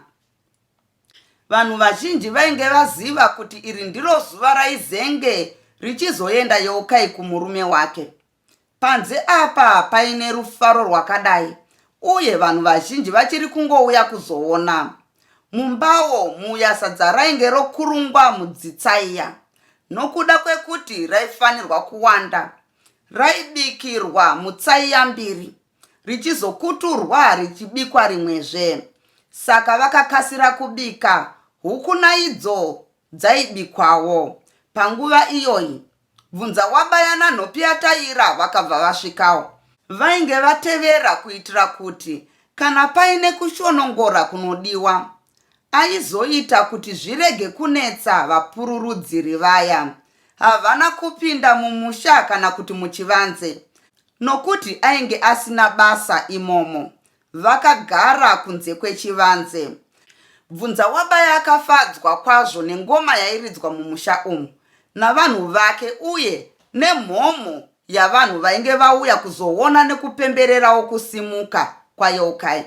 S1: Vanhu vazhinji vainge vaziva kuti iri ndiro zuva raizenge richizoenda Yeukai kumurume wake. Panze apa paine rufaro rwakadai uye vanhu vazhinji vachiri kungouya kuzoona. Mumbawo muya sadza rainge rokurungwa mudzitsaiya nokuda kwekuti raifanirwa kuwanda. Raibikirwa mutsaiya mbiri richizokuturwa richibikwa rimwezve. Saka vakakasira kubika huku naidzo dzaibikwawo. Panguva iyoyi, Bvunzawabaya naNhopiyataira vakabva vasvikawo. Vainge vatevera kuitira kuti kana paine kushonongora kunodiwa, aizoita kuti zvirege kunetsa vapururudziri vaya. Havana kupinda mumusha kana kuti muchivanze nokuti ainge asina basa imomo. vakagara kunze kwechivanze. Bvunzawabaya akafadzwa kwazvo nengoma yairidzwa mumusha umu navanhu vake uye nemhomho yavanhu vainge vauya kuzoona nekupembererawo kusimuka kwaYeukai,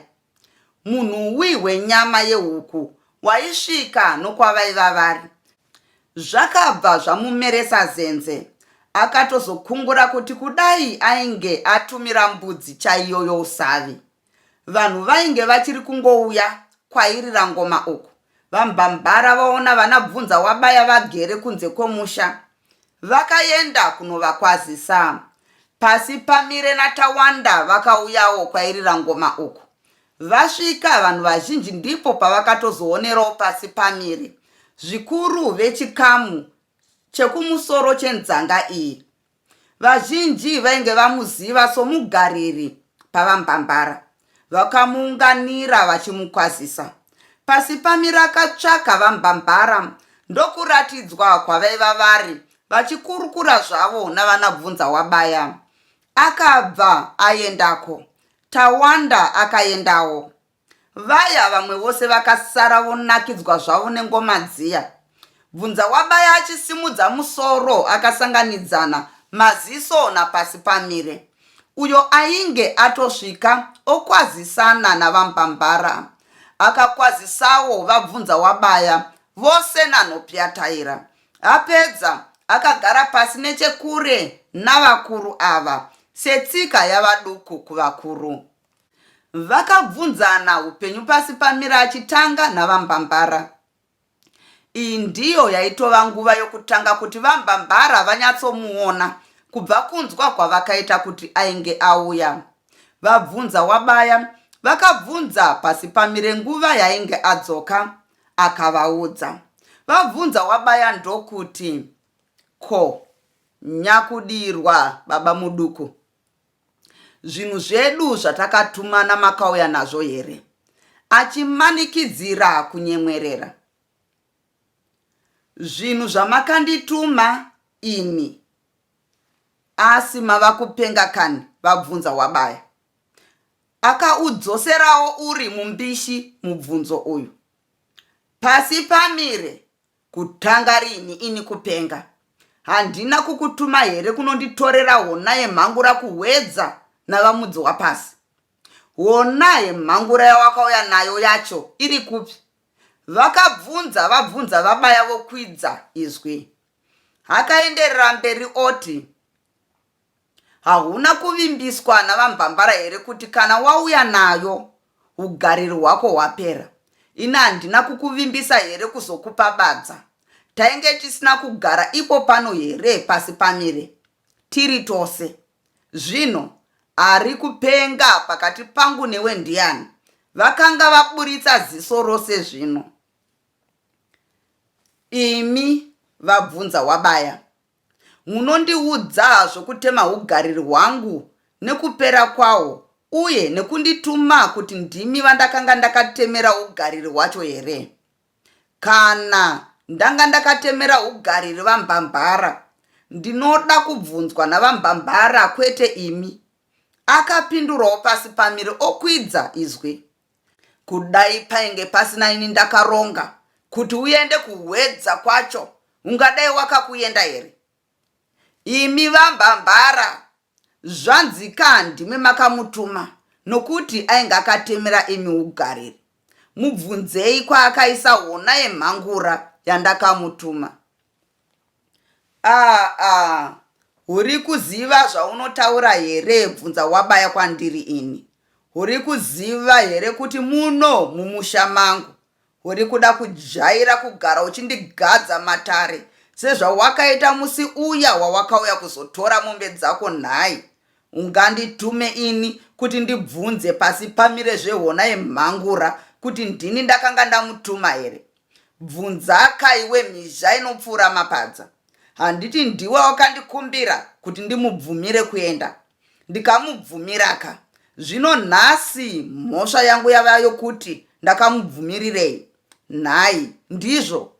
S1: munhuwi wenyama yehuku waisvika nokwavaiva vari Zvakabva zvamumeresa zenze akatozokungura kuti kudai ainge atumira mbudzi chaiyo yousavi vanhu vainge vachiri kungouya kwairira ngoma uku. VaMbambara vaona vana Bvunzawabaya vagere kunze kwomusha vakaenda kunovakwazisa. Pasi pamire naTawanda vakauyawo kwairira ngoma uku Vasvika, vanhu vazhinji ndipo pavakatozoonerawo pasi pamire zvikuru vechikamu chekumusoro chenzanga iyi. Vazhinji vainge vamuziva somugariri paVaMbambara vakamuunganira vachimukwazisa. Pasi pamira akatsvaka VaMbambara ndokuratidzwa kwavaiva vari vachikurukura zvavo navanabvunza wabaya. Akabva aendako Tawanda akaendawo. Vaya vamwe vose vakasara vonakidzwa zvavo nengoma dziya. Bvunza wabaya achisimudza musoro akasanganidzana maziso napasi pamire. Uyo ainge atosvika okwazisana navaMbambara. Akakwazisawo vabvunza wabaya vose nanhopyataira. Apedza akagara pasi nechekure navakuru ava setsika yavaduku kuvakuru. Vakabvunzana upenyu pasi pamira achitanga navambambara. Iyi ndiyo yaitova nguva yokutanga kuti vambambara vanyatsomuona kubva kunzwa kwavakaita kuti ainge auya. Vabvunza wabaya vakabvunza pasi pamire nguva yainge adzoka Akavaudza. Vabvunza wabaya ndokuti, Ko, nyakudirwa baba muduku, zvinhu zvedu zvatakatumana makauya nazvo here? Achimanikidzira kunyemwerera. Zvinhu zvamakandituma ini asi mava kupenga kani vabvunza wabaya Akaudzoserawo uri mumbishi mubvunzo uyu. Pasi pamire kutanga rini ini kupenga? Handina kukutuma here kunonditorera hona yemhangura kuhwedza navamudzi wapasi? Hona yemhangura yawakauya nayo yacho iri kupi? Vakabvunza vabvunza vabaya vokwidza izwi. Akaenderera mberi oti. Hauna kuvimbiswa navambambara here kuti kana wauya nayo hugariri hwako hwapera? Ini handina kukuvimbisa here kuzokupa badza? Tainge tisina kugara ipo pano here pasi pamire tiri tose? Zvino ari kupenga pakati pangu newe ndiani? Vakanga vaburitsa ziso rose zvino. Imi? vabvunza Wabaya. Munondiudza zvokutema ugariri hwangu nekupera kwahwo uye nekundituma kuti ndimi vandakanga ndakatemera ugariri hwacho here? Kana ndanga ndakatemera ugariri vaMbamhara, ndinoda kubvunzwa naVaMbamhara kwete imi. Akapindurawo pasi pamire okwidza izwi. Kudai painge pasina ini ndakaronga kuti uende kuhwedza kwacho ungadai wakakuenda here? Imi vambambara zvanzi ka ndimi makamutuma nokuti ainge akatemera imi ugariri. Mubvunzei kwaakaisa hona yemhangura yandakamutuma. Aah aah urikuziva zvaunotaura here bvunza wabaya kwandiri ini. Urikuziva here kuti muno mumusha mangu urikuda kujaira kugara uchindigadza matare sezvawakaita musi uya wawakauya kuzotora mombe dzako nhai? Unganditume ini kuti ndibvunze pasi pamire zvehona yemhangura kuti ndini ndakanga ndamutuma here? Bvunzaka iwe mhizha inopfuura mapadza. Handiti ndiwe wakandikumbira kuti ndimubvumire kuenda ndikamubvumiraka. Zvino nhasi mhosva yangu yava yokuti ndakamubvumirirei nhai ndizvo?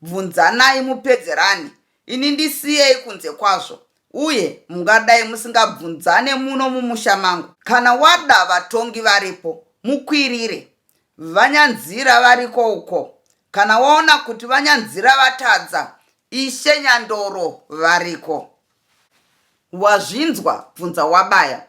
S1: Bvunzanai mupedzerane ini ndisiyei kunze kwazvo uye mungadai musingabvunzane muno mumusha mangu. Kana wada vatongi varipo mukwirire Vanyanzira variko uko. Kana waona kuti vanyanzira vatadza, Ishe Nyandoro variko. Wazvinzwa, bvunza wabaya.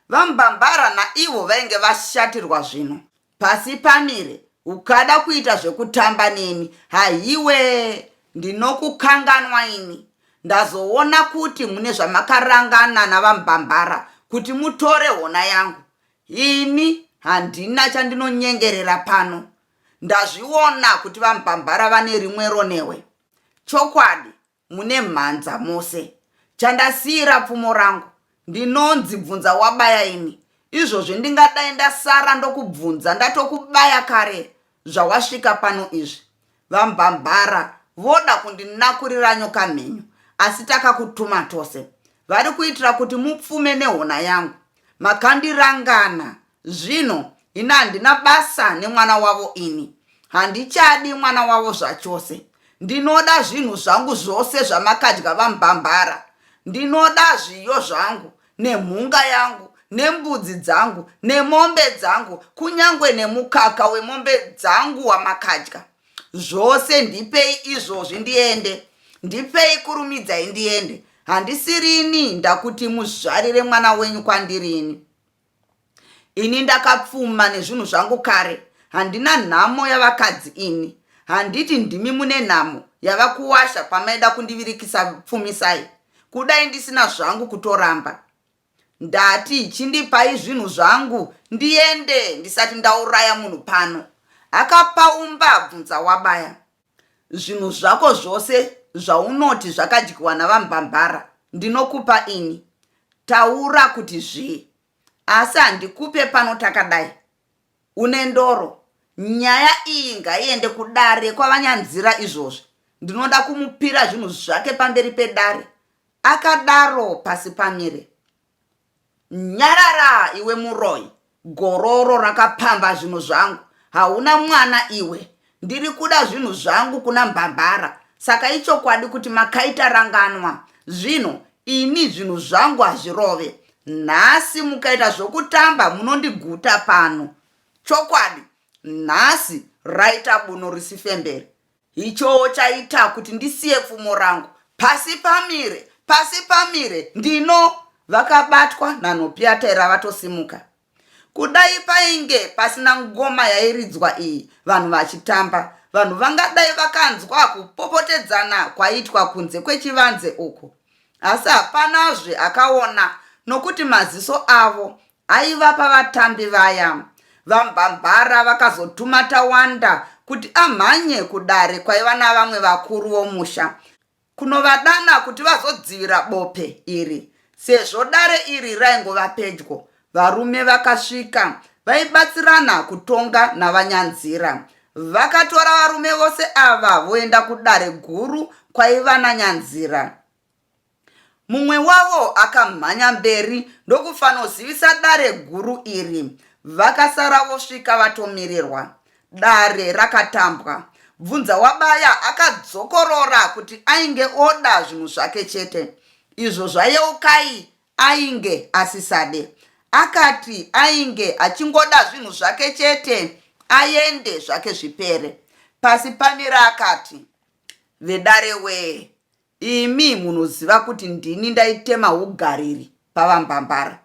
S1: VaMbambara naivo vainge vashatirwa zvino. Pasi pamire, ukada kuita zvekutamba neni, hahiwee, ndinokukanganwa ini. Ndazoona kuti mune zvamakarangana naVaMbambara kuti mutore hona yangu. Ini handina chandinonyengerera pano. Ndazviona kuti vaMupambara vane rimwe ronewe. Chokwadi mune mhanza mose. Chandasiira pfumo rangu. Ndinonzi bvunza wabaya ini. Izvozvi ndingadai ndasara ndokubvunza ndatokubaya kare zvawasvika pano izvi. VaMbambara voda kundinakurira nyoka mhenyu asi takakutuma tose. Vari kuitira kuti mupfume nehona yangu. Makandirangana zvino hina handina basa nemwana wavo ini. Handichadi mwana wavo zvachose. Ndinoda zvinhu zvangu zvose zvamakadya vaMbambara. Ndinoda zviyo zvangu nemhunga yangu nembudzi dzangu nemombe dzangu kunyange nemukaka wemombe dzangu wamakadya zvose ndipei izvozvi ndiende ndipei kurumidzai ndiende handisirini ndakuti muzvarire mwana wenyu kwandirini Ini ndakapfuma nezvinhu zvangu kare handina nhamo yavakadzi ini handiti ndimi mune nhamo yava kuwasha kwamaida kundivirikisa pfumisai kudai ndisina zvangu kutoramba ndati chindipai zvinhu zvangu ndiende ndisati ndauraya munhu pano akapaumba abvunza wabaya zvinhu zvako zvose zvaunoti zvakadyiwa navambambara ndinokupa ini taura kuti zvii asi handikupe pano takadai une ndoro nyaya iyi ngaiende kudare kwavanyanzira izvozvi ndinoda kumupira zvinhu zvake pamberi pedare akadaro pasi pamire nyarara iwe muroyi gororo rakapamba zvinhu zvangu hauna mwana iwe Ndiri kuda zvinhu zvangu kuna Mbambara saka ichokwadi kuti makaita ranganwa zvino ini zvinhu zvangu hazvirove nhasi mukaita zvokutamba munondiguta pano chokwadi nhasi raita buno risifembere ichoo chaita kuti ndisiye pfumo rangu pasi pamire pasi pamire ndino vakabatwa nanhopiyataira vatosimuka Kudai painge pasina ngoma yairidzwa iyi vanhu vachitamba, vanhu vangadai vakanzwa kupopotedzana kwaiitwa kunze kwechivanze uku. Asi hapanazve akaona nokuti maziso avo aiva pavatambi vaya. VaMbambara vakazotuma Tawanda kuti amhanye kudare kwaiva navamwe vakuru vomusha kunovadana kuti vazodzivira bope iri sezvo dare iri raingova pedyo. Varume vakasvika vaibatsirana kutonga naVaNyanzira. Vakatora varume vose ava voenda kudare guru kwaiva naNyanzira. Mumwe wavo akamhanya mberi ndokufanozivisa dare guru iri. Vakasara vosvika vatomirirwa. Dare rakatambwa. Bvunzawabaya akadzokorora kuti ainge oda zvinhu zvake chete izvo zvaYeukai ainge asisade. Akati ainge achingoda zvinhu zvake chete aende zvake zvipere. Pasi pamira akati, Vedare wee, Imi munoziva kuti ndini ndaitema hugariri pavaMbambara.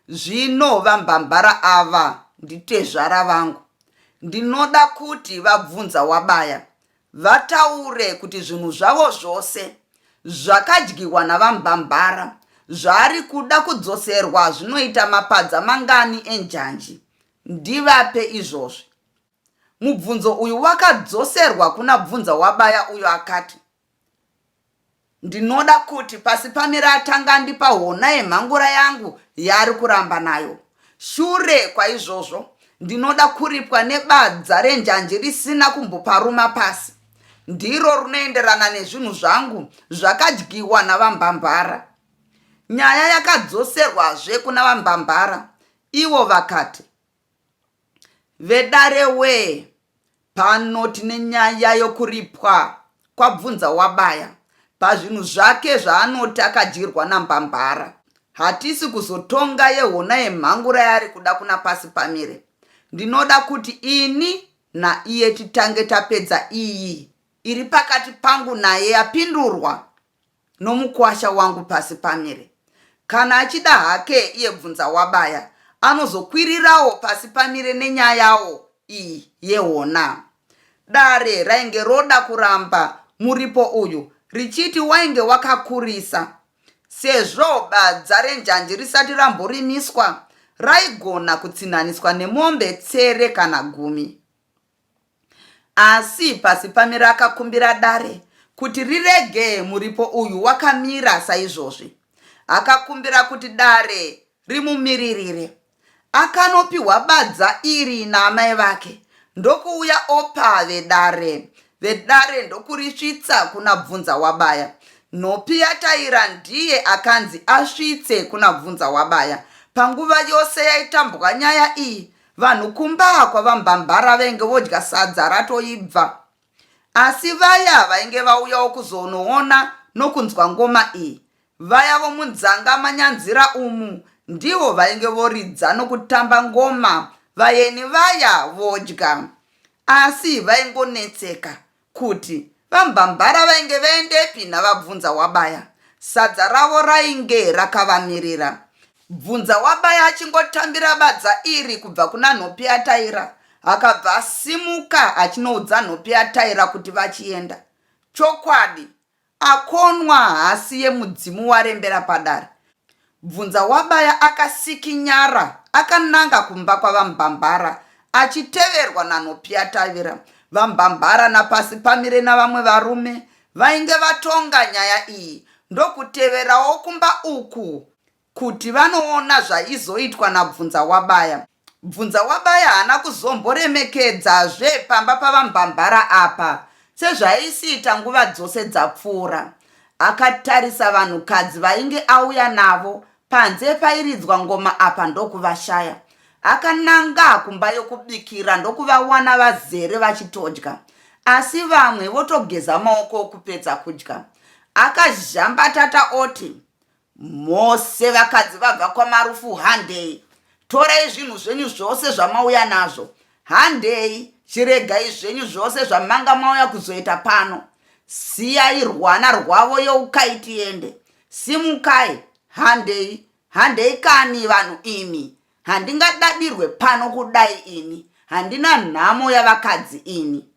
S1: Zvino vaMbambara ava nditezvara vangu. Ndinoda kuti vaBvunzawabaya vataure kuti zvinhu zvavo zvose zvakadyiwa navaMbambara zvaari kuda kudzoserwa zvinoita mapadza mangani enjanji. Ndivape izvozvi. Mubvunzo uyu wakadzoserwa kuna Bvunzawabaya uyo akati. Ndinoda kuti pasi pamire atanga andipa hona yemhangura yangu yaari kuramba nayo. Shure kwaizvozvo ndinoda kuripwa nebadza renjanji risina kumboparuma pasi. Ndiro runoenderana nezvinhu zvangu zvakadyiwa navambambara. Nyaya yakadzoserwazve kuna vambambara ivo vakati, vedare wee pano tine nyaya yokuripwa kwabvunza wabaya pazvinhu zvake zvaanoti akadyirwa nambambara hatisi kuzotonga yehona yemhangura yaari kuda kuna pasi pamire ndinoda kuti ini naiye titange tapedza iyi iri pakati pangu naye yapindurwa nomukwasha wangu pasi pamire kana achida hake iye bvunza wabaya anozokwirirawo pasi pamire nenyayawo iyi yehona dare rainge roda kuramba muripo uyu richiti wainge wakakurisa sezvo badza renjanji risati ramborimiswa raigona kutsinhaniswa nemombe tsere kana gumi Asi Pasipamira akakumbira dare kuti rirege muripo uyu wakamira saizvozvi. Akakumbira kuti dare rimumiririre. Akanopihwa badza iri naamai vake ndokuuya opa vedare. Vedare ndokurisvitsa kuna Bvunza Wabaya. Nhopi yataira ndiye akanzi asvitse kuna Bvunza Wabaya. Panguva yose yaitambwa nyaya iyi, Vanhu kumba kwavambambara venge vodya sadza ratoibva asi vaya vainge vauyawo kuzonoona nokunzwa ngoma iyi vaya vomunzanga manyanzira umu ndivo vainge voridza nokutamba ngoma vayeni vaya vodya asi vaingonetseka Kuti VaMbambara vainge vaendepi naVabvunza wabaya. Sadza ravo rainge rakavamirira. Bvunza wabaya achingotambira badza iri kubva kuna Nhopiyataira akabva asimuka achinoudza Nhopiyataira kuti vachienda. Chokwadi Akonwa haasi yemudzimu warembera padare. Bvunzawabaya akasikinyara akananga kumba kwaVaMbambara achiteverwa naNopiyatavira. VaMbambara naPasipamire navamwe varume vainge vatonga nyaya iyi ndokuteverawo kumba uku kuti vanoona zvaizoitwa naBvunzawabaya. Bvunzawabaya haana kuzomboremekedzazve pamba paVaMbambara apa sezvaaisiita nguva dzose dzapfuura. Akatarisa vanhukadzi vainge auya navo panze pairidzwa ngoma apa ndokuvashaya. Akananga kumba yokubikira ndokuvawana vazere vachitodya asi vamwe votogeza maoko okupedza kudya. Akazhambatata oti, Mose vakadzi vabva kwaMarufu handei torai zvinhu zvenyu zvose zvamauya nazvo handei chiregai zvenyu zvose zvamanga mauya kuzoita pano siyai rwana rwavo youkai tiende simukai handei handei kani vanhu imi handingadadirwe pano kudai ini handina nhamo yavakadzi ini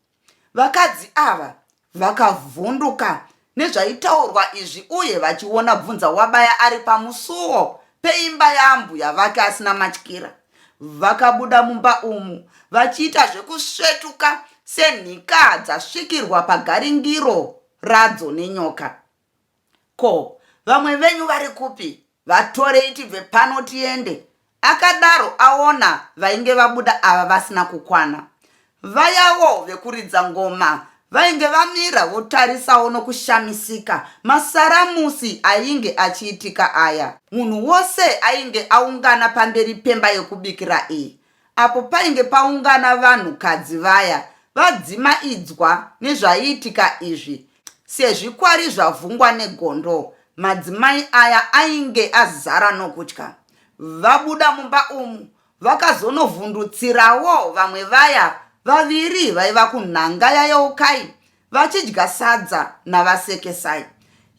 S1: Vakadzi ava vakavhunduka nezvaitaurwa izvi uye vachiona bvunza wabaya ari pamusuwo peimba yaambuya vake asina matyira vakabuda mumba umu vachiita zvekusvetuka senhika dzasvikirwa pagaringiro radzo nenyoka ko vamwe venyu vari kupi Vatorei tibve pano tiende. Akadaro aona vainge vabuda ava vasina kukwana. Vayawo vekuridza ngoma vainge vamira votarisawo nokushamisika masaramusi ainge achiitika aya. Munhu wose ainge aungana pamberi pemba yekubikira iyi apo painge paungana vanhukadzi vaya vadzimaidzwa nezvaiitika izvi sezvikwari zvavhungwa negondo madzimai aya ainge azara nokutya vabuda mumba umu vakazonovhundutsirawo vamwe vaya vaviri vaiva kunhanga yayeukai vachidya sadza navasekesai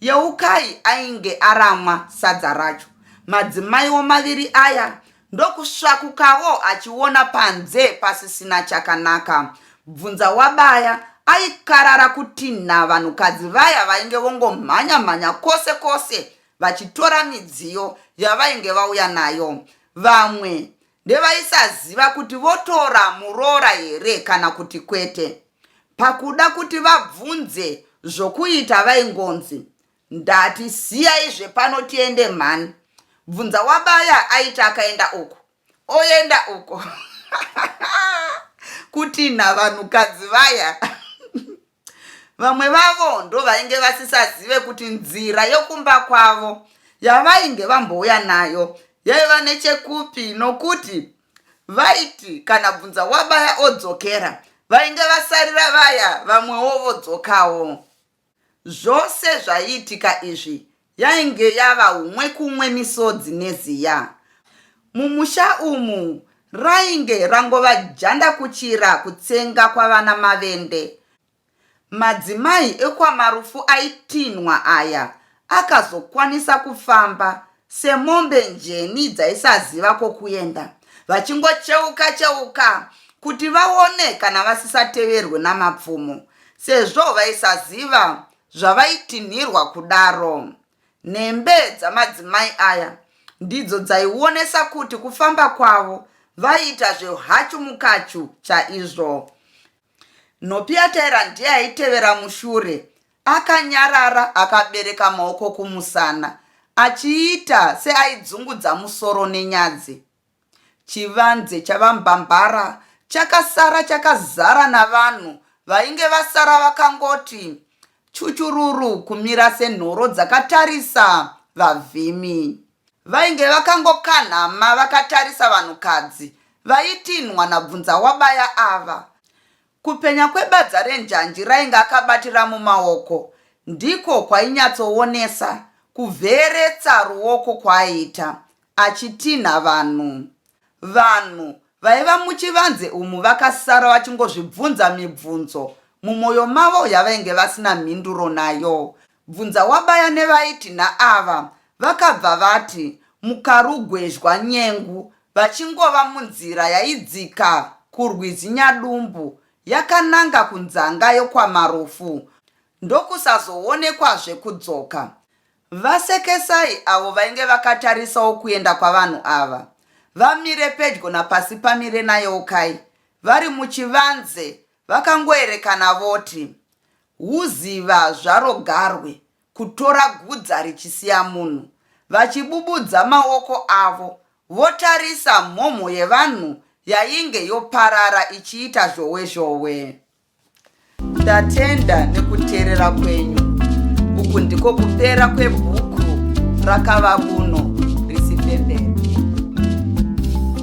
S1: yeukai ainge aramwa sadza racho madzimaiwo maviri aya ndokusvakukawo achiona panze pasisina chakanaka bvunza wabaya aikarara kutinha vanhukadzi vaya vainge vongomhanya mhanya kwose kwose vachitora midziyo yavainge vauya nayo vamwe ndevaisaziva kuti votora muroora here kana kuti kwete pakuda kuti vabvunze zvokuita vaingonzi Ndati siyai zvepano tiende mhani. Bvunza wabaya aiti akaenda uko. Oenda uko. Kutinha vanhukadzi vaya. Vamwe vavo ndovainge vasisazive kuti nzira yokumba kwavo yavainge vambouya nayo yaiva nechekupi nokuti vaiti kana bvunza wabaya odzokera vainge vasarira vaya vamwewo vodzokawo Zvose zvaiitika izvi yainge yava umwe kumwe misodzi neziya. Mumusha umu rainge rangova janda kuchira kutsenga kwavana Mavende. Madzimai ekwaMarufu aitinhwa aya akazokwanisa kufamba semombe njeni dzaisaziva kwokuenda, vachingocheuka cheuka kuti vaone kana vasisateverwe namapfumo sezvo vaisaziva zvavaitinhirwa kudaro. Nhembe dzamadzimai aya ndidzo dzaionesa kuti kufamba kwavo vaiita zveuhachu mukachu chaizvo. Nhopiataira ndiye aitevera mushure akanyarara akabereka maoko kumusana achiita seaidzungudza musoro nenyadzi. Chivanze chaVaMbambara chakasara chakazara navanhu vainge vasara vakangoti chuchururu kumira senhoro dzakatarisa vavhimi. Vainge vakangokanhama vakatarisa vanhukadzi vaitinhwa naBvunzawabaya ava. Kupenya kwebadza renjanji rainge akabatira mumaoko ndiko kwainyatsoonesa kuvheeretsa ruoko kwaaiita achitinha vanhu. Vanhu vaiva muchivanze umu vakasara vachingozvibvunza mibvunzo mumoyo mavo yavainge vasina mhinduro nayo. Bvunza wabaya nevaiti naava vakabva vati mukarugwezhwa nyengu vachingova munzira yaidzika kurwizi Nyadumbu yakananga kunzanga yokwamarufu ndokusazoonekwazve kudzoka. VaSekesai avo vainge vakatarisawo kuenda kwavanhu ava vamire pedyo naPasipamire naYeukai vari muchivanze vakangoerekana voti Huziva zvaro garwe kutora gudza richisiya munhu. Vachibubudza maoko avo votarisa mhomho yevanhu yainge yoparara ichiita zhowe zhowe. Ndatenda nekuteerera kwenyu. Uku ndiko kupera kwebhuku rakava kuno.